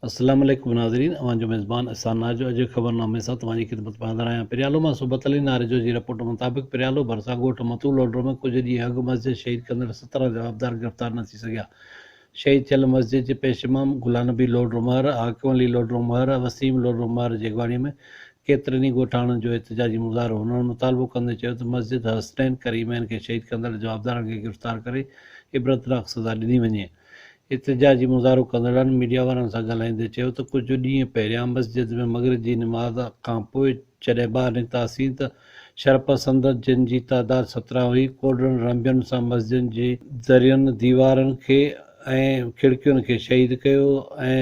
السلام عليڪم ناظرين اوهان جو ميزبان احسان نارجو اڄ جي خبرنامي سان توهان جي خدمت ۾ حاضر آهيان پريالو مان صحبت علي نارجو جي رپورٽ مطابق پريالو ڀرسان ڳوٺ متو لوڍرو ۾ ڪجهه ڏينهن اڳ مسجد شهيد ڪندڙ سترهن جوابدار گرفتار نه ٿي سگهيا شهيد ٿيل مسجد جي پيش امام گلان نبي لوڍرو مهر حاڪم علي لوڍرو مهر ۽ وسيم لوڍرو مهر جي اڳواڻي ۾ ڪيترن ئي ڳوٺاڻن جو احتجاجي مظاهرو هنن مطالبو ڪندي چيو ته مسجد حسنين ڪريمين کي شهيد ڪندڙ جوابدارن کي گرفتار ڪري عبرتناڪ سزا ڏني وڃي احتجاجي مظاهرو ڪندڙن ميڊيا وارن سان ڳالهائيندي چيو ته ڪجهه ڏينهن پهريان مسجد ۾ مغرب جي نماز کانپوء جڏهن ٻاهر نڪتاسين ته شرپسندن جن جي تعداد سترهن هئي ڪوڏرن رنبين سان مسجدن جي درين، ديوارن کي ۽ کڙڪين کي شهيد ڪيو ۽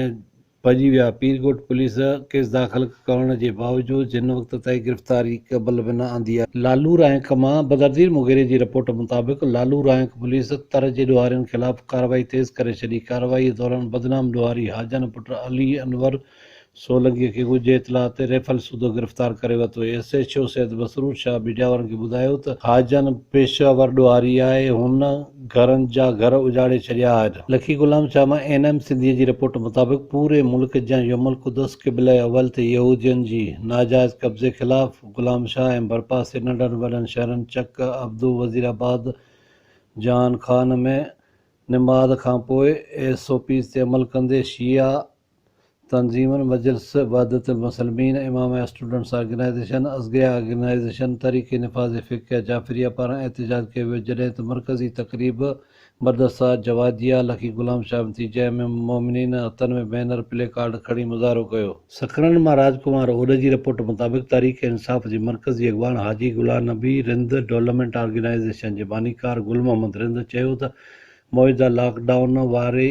ڀڄي ويا، پيرڪوٽ پوليس ڪيس داخل ڪرڻ جي باوجود جن وقت تائين گرفتاري قبل به نه آندي آهي. لالو رائنڪ مان بدرضير مغيري جي رپورٽ مطابق لالو رائنڪ پوليس تر جي ڏوهارين خلاف ڪارروائي تيز ڪري ڇڏي، ڪارروائي دوران بدنام ڏوهاري حاجن پٽ علي انور سولنگي کي ڳجهه اطلاع تي ريفل سوڌو گرفتار ڪري ورتو، S H O Syed Masroor Shah بجاور کي ٻڌايو ته حاجن پيشه ور ڏوهاري آهي، هن. گهرن جا گهر اجاڙي ڇڏيا آهن. لکي غلام شاهه مان اين ايم سنڌيء جي رپورٽ مطابق پوري ملڪ جيان يوم القدس قبله اول تي يهودين جي ناجائز قبضي خلاف غلام شاهه ۽ ڀرپاسي ننڍن وڏن شهرن چڪ، ابدو، وزير آباد، جان خان ۾ نماز کانپوء ايس او پيز تي عمل ڪندي شيعا تنظيمن مجلس وحدت المسلمين، امام اسٽوڊنٽس آرگنائيزيشن، ازگيا آرگنائيزيشن، تحريڪ نفاذ فقه جعفريه پاران احتجاج ڪيو ويو جڏهن ته مرڪزي تقريب مدرسه جواديه لکي غلام شاهه متي جي ام المومنين هٿن ۾ بينر پلي ڪارڊ کڻي مظاهرو ڪيو. سکرن مان راج ڪمار اوڏ جي رپورٽ مطابق تحريڪ انصاف جي مرڪزي اڳواڻ حاجي غلام نبي رند ڊولپمينٽ آرگنائيزيشن جي بانيڪار گل محمد رند چيو ته موجوده لاڪ ڊائون واري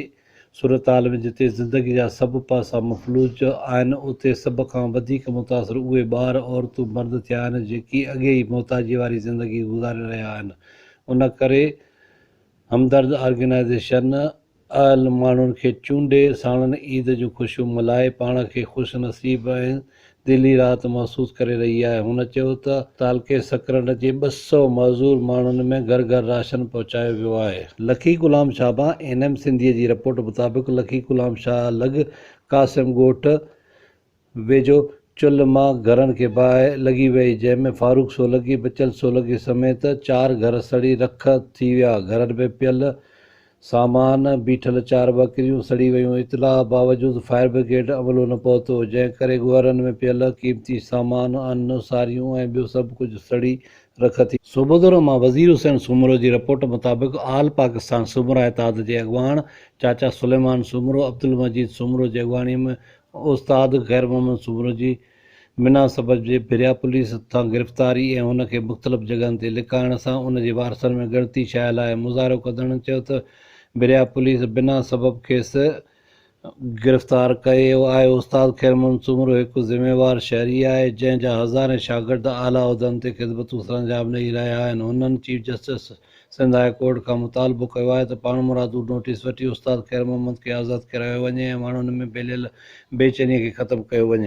صورتحال ۾ جتي زندگي جا سڀ پاسا مفلوج آهن، اتي سڀ کان وڌيڪ متاثر اهي ٻار، عورتون، مرد ٿيا آهن، جيڪي اڳي ئي محتاجي واري زندگي گذاري رهيا آهن. ان ڪري همدرد آرگنائيزيشن اهل ماڻهن کي چونڊي، ساڻن عيد جون خوشيون ملهائي، پاڻ کي خوش نصيب ۽ دل ئي راحت محسوس ڪري رهي آهي. هن چيو ته تعلقي سڪرنڊ جي ٻه سؤ معذور ماڻهن ۾ گهر گهر راشن پهچايو ويو آهي. لکي غلام شاهبان اين ايم سنڌيء جي رپورٽ مطابق لکي غلام شاهه لڳ قاسم ڳوٺ ويجهو چلهه مان گهرن کي باهه لڳي وئي جنهن ۾ فاروق سولنگي بچل سولنگي سميت چار گهر سڙي رک ٿي ويا گهرن ۾ پيل سامان، بيٺل چار ٻڪريون سڙي ويون، اطلاع باوجود فائر برگيڊ عملو نه پهتو، جنهن ڪري ڳوهرن ۾ پيل قيمتي سامان، ان، ساريون ۽ ٻيو سڀ ڪجهه سڙي رک ٿي. صوبو دورو مان وزير حسين سومرو جي رپورٽ مطابق آل پاڪستان سومرا اتحاد جي اڳواڻ چاچا سليمان سومرو، عبدالمجيد سومرو جي اڳواڻي ۾ استاد خيرمحمد سومرو جي منا صبر جي پھريان پوليس ھٿان گرفتاري ۽ ھن کي مختلف جڳھن تي لڪائڻ سان ان جي وارثن ۾ ڳڻتي شايع لاء مظاھرو ڪندڙن چيو ته بھريا پوليس بنا سبب کيس گرفتار ڪيو آھي استاد خيرمحمد سومرو ھڪ ذميوار شھري آھي جنھن جا ھزارين شاگرد اعليٰ عھدن تي خدمتون سرانجام ڏئي رھيا آھن ھنن chief justice Sindh high court کان مطالبو ڪيو آھي ته پاڻمرادو نوٽيس وٺي استاد خيرمحمد کي آزاد ڪرايو وڃي ۽ ماڻھن ۾ ڦھليل بيچيني کي ختم ڪيو وڃي.